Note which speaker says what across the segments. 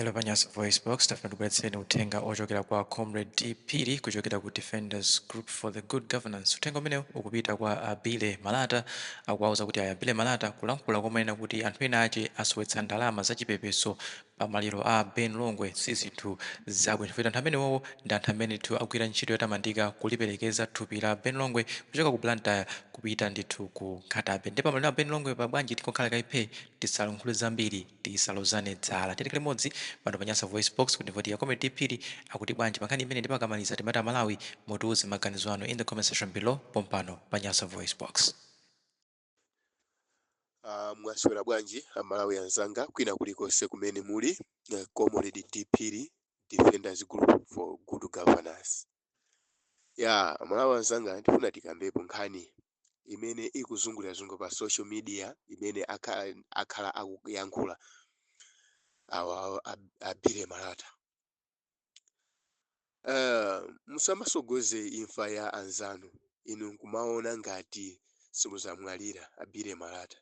Speaker 1: Hello pa Nyasa Voice Box, tafuna ndibweretseni uthenga ochokera kwa Comrade D. Phiri kuchokera ku Defenders Group for the Good Governance. Uthenga umenewu ukupita kwa a Billy Malata, akuwauza kuti iyayi a Billy Malata kulankhula komanena kuti anthu ena ache asowetsa ndalama zachipepeso pa maliro a Ben Longwe si zinthu zabwino chifukwa anthu amenewowo ndi anthu amene ndithu agwira ntchito yotamandika kuliperekeza thupi la Ben Longwe kuchoka ku Blantyre kupita ndithu ku Nkhatabay. Ndipo pa maliro a Ben Longwe pa bwanji tingokhala kaye phee tisalankhule zambiri? tisalozane dzala tili limodzi pano pa nyasa voice box kuti kodi a comrade D Phiri akuti bwanji pa nkhani imeneyi ndipo akamaliza timati a Malawi mutiuze maganizo anu in the comment section below pompano pa nyasa voice box.
Speaker 2: Ah, mwaswera bwanji amalawi anzanga kwina kulikonse kumene muli eh, comrade D Phiri Defenders Group for Good Governance ya amalawi anzanga ndifuna tikambepo nkhani imene ikuzungulirazungulira pa social media imene akhala, akhala akuyankhula awa a- a Billy Malata uh, musamasogoze imfa ya anzanu inu nkumaona ngati simuzamwalira a Billy Malata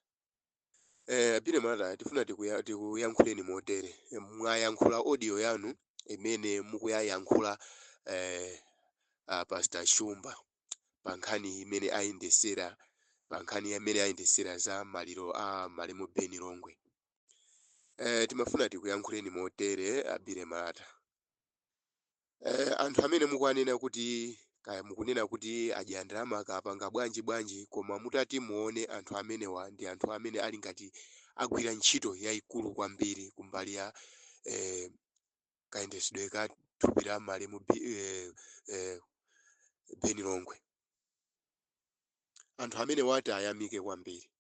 Speaker 2: A Billy Malata, tifuna tikuya, tikuyankhuleni motere. Eh, Mwayankhula audio yanu imene mukuyayankhula eh, a Pastor Shumba pa nkhani imene ayendesera pa nkhani imene ayendesera za maliro a malemu Ben Longwe. Eh, timafuna tikuyankhuleni motere a Billy Malata. Eh, anthu amene mukuwanena kuti kaya mukunena kuti adya ndalama kaya apanga bwanji bwanji koma mutati muone anthu amenewa ndi anthu amene ali ngati agwira ntchito yayikulu kwambiri kumbali ya eh, kayendetsedwe ka thupi la malemu Bi- eh, eh, Ben Longwe anthu amenewa tiwayamike kwambiri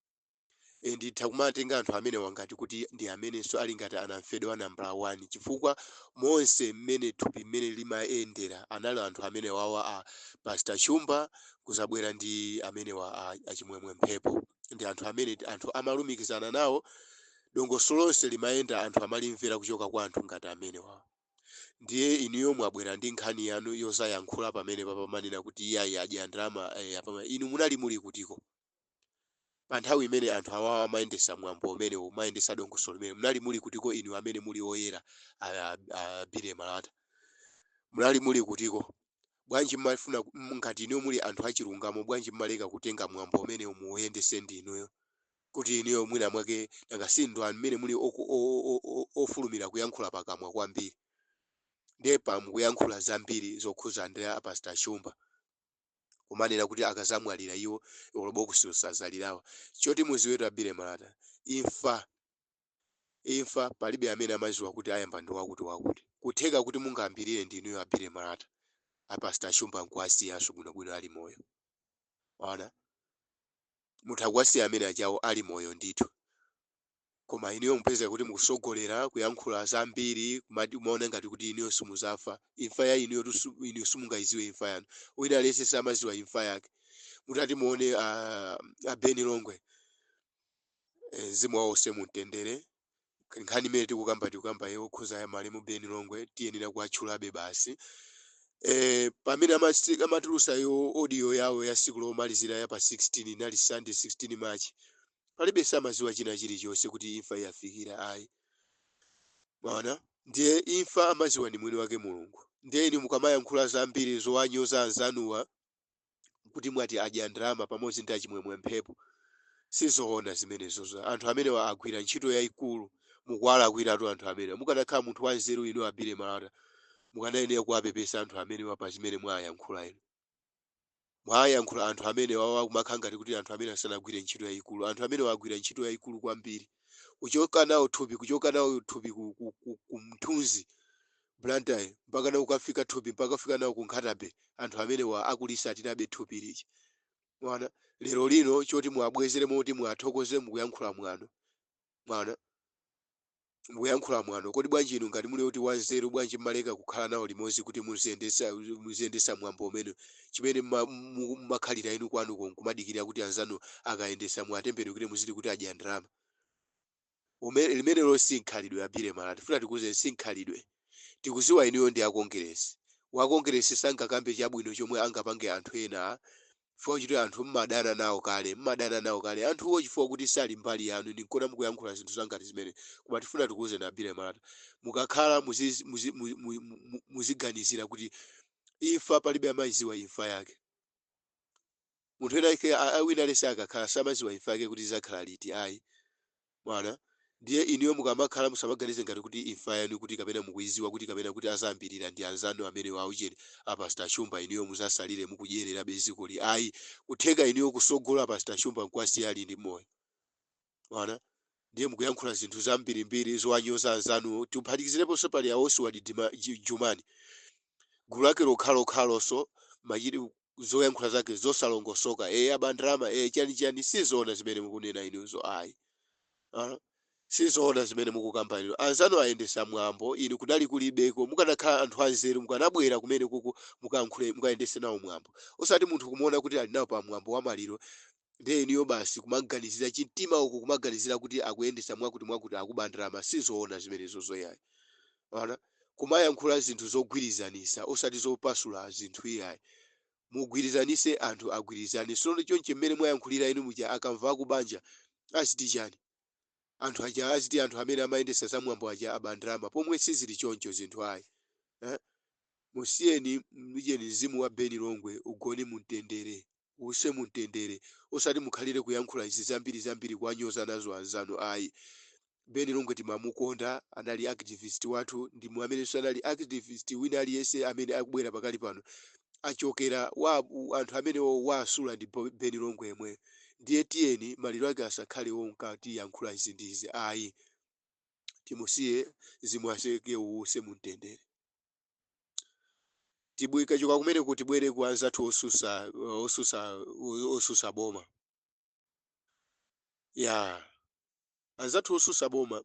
Speaker 2: E, nditha kumatenga anthu amenewa ngati kuti ndi amenenso ali ngati anamfedwa a nambala wani chifukwa monse mmene thupi mmene limayendera anali anthu amenewawa a Pastor Shumba kuzabwera ndi amenewa a, a Chimwemwe Mphepo ndi anthu amene ti- anthu amalumikizana nawo dongosolo lonse limayenda anthu amalimvera kuchoka kwa anthu ngati amenewa ndiye inuyo mwabwera ndi nkhani yanu yozayankhula pamene apa kumanena kuti iyayi adya ndalama eh, apama inu munali muli kutiko Pa nthawi imene anthu awawa amayendesa mwambo umenewu, amayendesa dongosolo limeneli, munali muli kutiko inu amene muli oyera a, a, a Billy Malata? Munali muli kutiko? Bwanji mmafuna ku- mm, ngati inuyo muli anthu achilungamo, bwanji mmaleka kutenga mwambo umenewu muuyendese ndi inuyo? Kuti inuyo mwina mwake nanga si inu amene muli oku- o- o- o- o- ofulumira kuyankhula pakamwa kwambiri. Ndiye apa mukuyankhula zambiri zokhuza ndi a Pastor Shumba. kumanena kuti akazamwalira iwo olo bokosi osazalirawa choti muziwetu a Billy Malata imfa imfa palibe amene amaziwa kuti ayamba ndi wakuti wakuti kutheka kuti mungayambirire ndi inuyo a Billy Malata a Pastor Shumba nkuwasiyanso bwinobwino ali moyo ona mutha kuwasiya amene ajawo ali moyo ndithu Koma inuyo mupezeka kuti mukusogolera, kuyankhula zambiri, kumati kumaona ngati kuti inuyo simuzafa. Imfa ya inuyotu su inu simungayidziwe imfa yanu. Wina aliyense samadziwa imfa yake. Mutati muone a a Ben Longwe eh, mzimu wawo uuse mumtendere. Nkhani imene tikukamba tikukamba yokhuza ya malemu Ben Longwe tiyenera kuwatchulabe basi. Eh, pamene amasi- amatulusa yo audio yawo ya siku lomalizira ya pa 16 inali Sunday 16 March palibe samadziwa china chilichonse kuti imfa yawafikira ayi mwaona ndiye imfa amadziwa ndi mwini wake mulungu ndiye inu mukamayankhula zambiri zowanyoza anzanuwa kuti mwati adya ndalama pamodzi ndi a Chimwemwe Mphepo sizoona zimenezozo anthu amenewa agwira ntchito yayikulu mukuwalakwiratu anthu amenewa mukanakhala munthu wanzeru inu a Billy Malata mukanayenera kuwapepesa anthu amenewa pa zimene mwayankhula inu mwayankhula anthu amene wawa kumakhala ngati kuti anthu amenewa sanagwire ntchito yayikulu anthu amenewa agwira ntchito yayikulu kwambiri kuchoka nawo thupi kuchoka nawo thupi ku, ku, ku, ku Mthunzi Blantyre mpaka nawo kukafika thupi mpaka kufika nawo ku Nkhata Bay anthu amenewa akulisatirabe thupi lija mwaona lero lino choti muwabwezere moti muwathokoze mukuyankhula mwano mwaona mukuyankhula mwano kodi bwanji inu ngati muli oti anzeru bwanji mmaleka kukhala nawo limodzi kuti muziyendetsa muziyendetsa mwambo umene chimene mma- mu- mmakhalira inu kwanuko nkumadikirira kuti anzanu akayendetsa muwatembenukire muziti kuti adya ndalama Ume- limenelo si mkhalidwe a Billy Malata tifuna tikuuzeni si mkhalidwe tikuziwa inuyo ndi akongeresi wakongeresi sangakambe chabwino chomwe angapange anthu ena Chifukwa chakuti anthu m'madana nawo kale, m'madana nawo kale anthuwo chifukwa kuti sali mbali yanu, nde nkuona mukuyankhula zinthu zangati zimene, koma tifuna tikuuzeni a Billy Malata, mukakhala muzi, muzi, mu, mu, mu, mu, muziganizira kuti imfa palibe amaiziwa imfa yake. Munthu wina wake a- a- wina aliyense akakhala samaziwa imfa yake kuti izakhala liti ayi. Mwaona? Ndiye, inuyo mukamakhala, musamaganize ngati kuti imfa yanu kuti, kapena mukuidziwa kuti, kapena kuti azambirira ndi anzanu amenewo aucheni, a Pastor Shumba, inuyo mudzatsalire mukudyererabe dzikoli. Ayi! Kutheka inuyo kutsogola Pastor Shumba nkuwasiya ali ndi moyo. Mwaona? Ndiye mukuyankhula zinthu zambirimbiri zowanyoza anzanuwo, tiphatikizireponso pali a Osward Juma, Ju, Jumani, gulu lake lokhalokhaloso, machit, zoyankhula zake zosalongosoka ee aba ndalama ee chani chani sizoona zimene mukunena inuzo ayi uh, sizoona zimene mukukamba inu anzanu ayendetsa mwambo inu kunali kulibeko mukanakhala anthu anzeru mukanabwera kumene kuku mukayankhule mukayendetse nawo mwambo osati munthu kumuona kuti ali nawo pa mwambo wa maliro Ndiye inuyo basi kumaganizira chamumtima uko kumaganizira kuti akuyendetsa mwakuti mwakuti akuba ndalama sizoona zimenezozo iyayi. Ona kumayankhula zinthu zogwirizanisa osati zopasula zinthu iyayi. Mugwirizanise anthu agwirizane. Sono chonchi mmene mwayankhulira inu muja akamva akubanja aziti chani? Anthu aja aziti anthu amene amayendetsa za mwambo aja aba ndalama pomwe sizili choncho zinthu ayi. Eh? Musiyeni mujeni mzimu wa Ben Longwe ugone mumtendere. uwuse mu mtendere. Osati mukhalire kuyankhula izi zambiri zambiri kuwanyoza nazo anzanu ayi. Ben Longwe timamukonda, anali activist wathu ndimo amenenso anali activist wina aliyense amene akubwera pakali pano achokera kwa anthu amene wawasula ndi Bo- Ben Longwe yemweyo. Ndiye tiyeni maliro ake asakhale onka tiyankhula izi ndi izi ayi. Timusiye mzimu wake uwuse mu mtendere. tikachoka kumeneku tibwere ku anzathu osusa osusa osusa boma ya anzathu osusa boma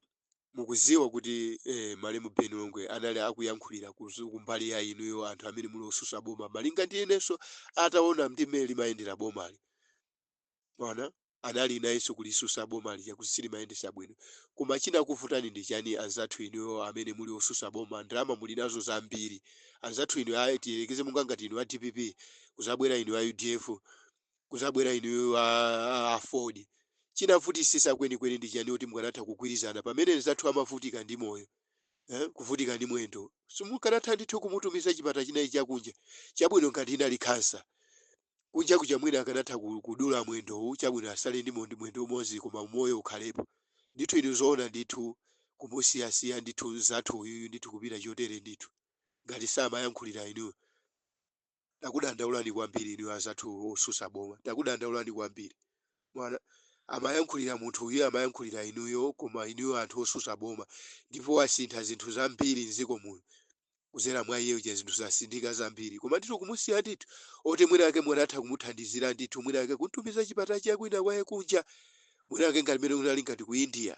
Speaker 2: mukuziwa kuti eh, malemu Ben Longwe anali akuyankhulira kuzu- kumbali ya inuyo anthu amene muli osusa boma malinga ndi iyenso ataona ndi mmene limayendera bomali ona anali nayenso kulisusa boma lija kuti silimayendesa bwino koma chinakuvutani ndi chani anzathu inuyo amene muli osusa boma ndalama muli nazo zambiri anzathu inu a tiyerekeze monga ngati inu a dpp kuzabwera inu a udf kuzabwera inuyo a, a, a aford chinavutisisa kwenikweni ndi chani kuti mukanatha kugwirizana pamene nzathu amavutika ndi moyo eh, kuvutika ndi mwendo simukanatha ndithu kumutumiza chipatala china chakunja chabwino ngati inali khansa kunja kuja mwina akanatha ku- kudula mwendowu chabwino asale ndi mondi mwendo umodzi koma umoyo ukhalepo ndithu inu zoona ndithu kumusiyasiya ndithu mzathu uyuyu ndithu kupita chotere ndithu ngati samayankhulira inu takudandaulani kwambiri inu azathu osusa boma takudandaulani kwambiri ona amayankhulira munthu uyu amayankhulira inuyo koma inuyo anthu osusa boma ndipo wasintha zinthu zambiri mdziko muno kuzera mwa iye uja zinthu zasinthika zambiri koma ndithu kumusiya ndithu oti mwina ake munatha kumuthandizira ndithu mwina ake kuntumiza chipatala cha kwina kwake kunja mwina ake ngati mwina unali ngati ku india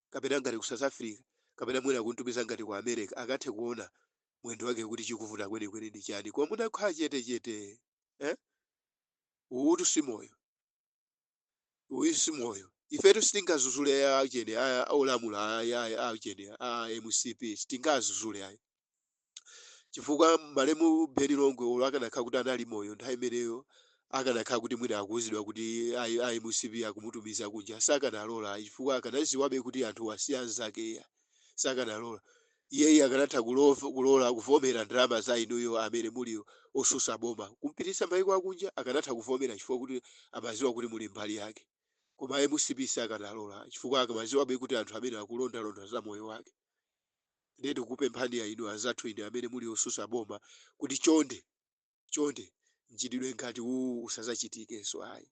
Speaker 2: kapena ngati ku south africa kapena mwina kuntumiza ngati ku america akathe kuona mwendo wake kuti chikuvuta kwenikweni ndi chani koma munakhala chetechete eh? uwutu si moyo uyu si moyo ifetu sitingazuzule a achina a a olamula a a- a achina a mcp sitingazuzule ayi chifukwa malemu beni longwe olo akanakhala kuti anali moyo nthawi imeneyo akanakhala kuti mwina akuwuzidwa kuti a a mcp akumutumiza kunja sakanalola ayi chifukwa akanaziwabe kuti anthuwa si anzake iya sakanalola iyeyi akanatha kulova- kulola kuvomera ndalama za inuyo amene muli osusa boma kumpititsa maiko akunja akanatha kuvomera chifukwa kuti amaziwa kuti muli mbali yake koma a mcp sakanalola chifukwa akamaziwabe kuti anthu amene akulondalonda za moyo wake ndiye tikukupemphani a inu anzathu inu amene muli osusa boma kuti chonde Chonde, mchitidwe ngati uwu usazachitikenso. Ayi.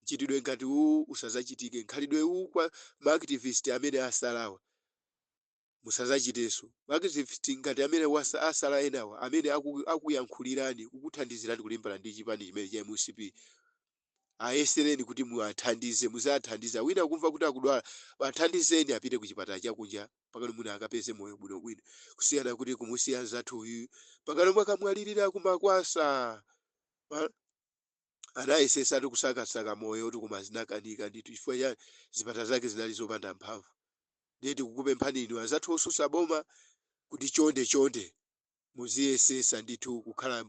Speaker 2: Mchitidwe ngati uwu usazachitike. Mkhalidwe uwu kwa ma activist amene asalawa, musazachitenso. Ma activist ngati amene wasa, asala enawa, amene aku, akuyankhulirani, kukuthandizirani kulimbana ndi chipani chimenechi cha mcp, ayesereni kuti muwathandize, muziwathandiza. Wina ukumva kuti akudwala, athandizeni apite kuchipatala chakunja mpakana mwina akapeze moyo bwinobwino, kusiyana kuti kumusiya mnzathu uyuyu mpakana omwe akamwalirira ku Makwasa. Ma- anayesesatu kusakasaka moyo kuti koma zinakanika ndithu chifukwa cha zipatala zake zinali zopanda mphamvu ndiye tikukupemphani inu anzathu osusa boma kuti chonde chonde Muziyesetsa ndithu kukhala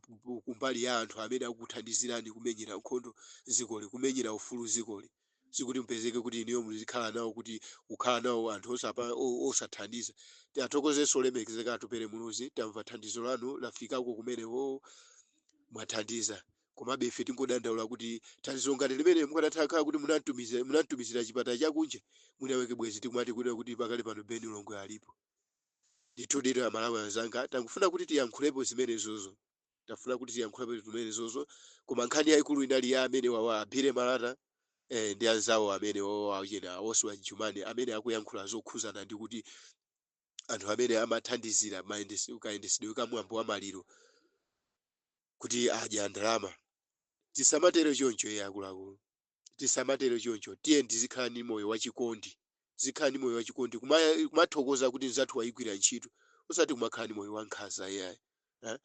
Speaker 2: kumbali ya anthu amene akukuthandizirani kumenyera nkhondo dzikoli, kumenyera ufulu dzikoli. Sikuti mupezeke kuti inuyo muzikhala nawo kuti kukhala nawo anthu osapa, o, osathandiza. Tiathokozenso olemekezeka Atupele Muluzi, tamva thandizo lanu lafikako kumeneko, mwathandiza. Komabe ife tingodandaula kuti thandizo ngati limeneli mukadatha kukhala kuti munamtumiza, munamtumizira chipatala cha kunja, mwinamwake bwenzi tikumati kunena kuti pakali pano Ben Longwe alipo. Ndithuditu amalawi anzanga tangofuna kuti tiyankhulepo zimenezozo tafuna kuti tiyankhulepo zimenezozo koma nkhani yaikulu inali ya amenewawa a Billy Malata eh, ndi anzawo amenewawa achina a Oswald Jumani amene akuyankhula zokhuzana ndi kuti anthu amene amathandizira mayendesi- kayendesedwe ka mwambo wa maliro kuti adya ndalama tisamatero choncho iye akuluakulu tisamatero choncho tiyeni tizikhala ndi moyo wachikondi tizikhala ndi moyo wachikondi kuma- kumathokoza kuti mzathu wayigwira ntchito osati kumakhala ndi moyo wankhanza iyayi eh?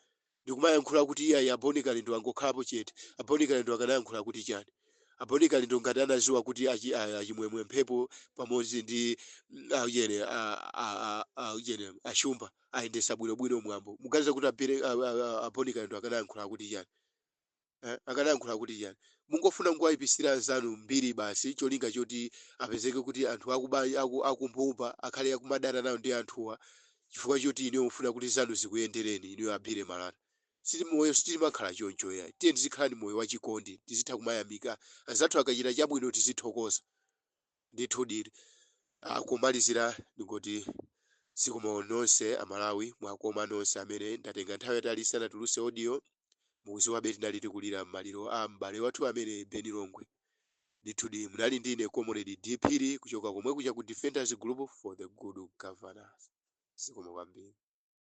Speaker 2: ndikumayankhula kuti iyayi a bon kalindo angokhalapo chete a bon kalindo akanayankhula kuti chani a bon kalindo ngati anaziwa kuti achi- a- achimwemwe mphepo pamodzi ndi mm, aujene a- a- a- aujene ashumba ayendesa bwinobwino mwambo muganiza kuti a billy- a- a- a- a bon kalindo akanayankhula kuti chani eh, akadayankhula kuti chani mungofuna kungowayipisira anzanu mbiri basi cholinga choti apezeke kuti anthu akumbumba akhale akumadana nawo ndi anthuwa chifukwa choti inuyo mufuna kuti zanu zikuyendereni inuyo abire malata moyo sitimakhala choncho yayi tiye tizikhala ndi moyo wachikondi tizitha kumayamika anzathu akachita chabwino tizithokoza Ndithudi kumalizira ndingoti zikomo nonse a Malawi mwakoma nonse amene ndatenga nthawi yatali ndisanatulutse audio mukudziwabe tinali tikulira maliro a m'bale wathu amene Ben Longwe ndithudi munali ndi ine comrade D Phiri kuchoka komwe kuja ku Defenders Group for the Good Governance zikomo kwambiri.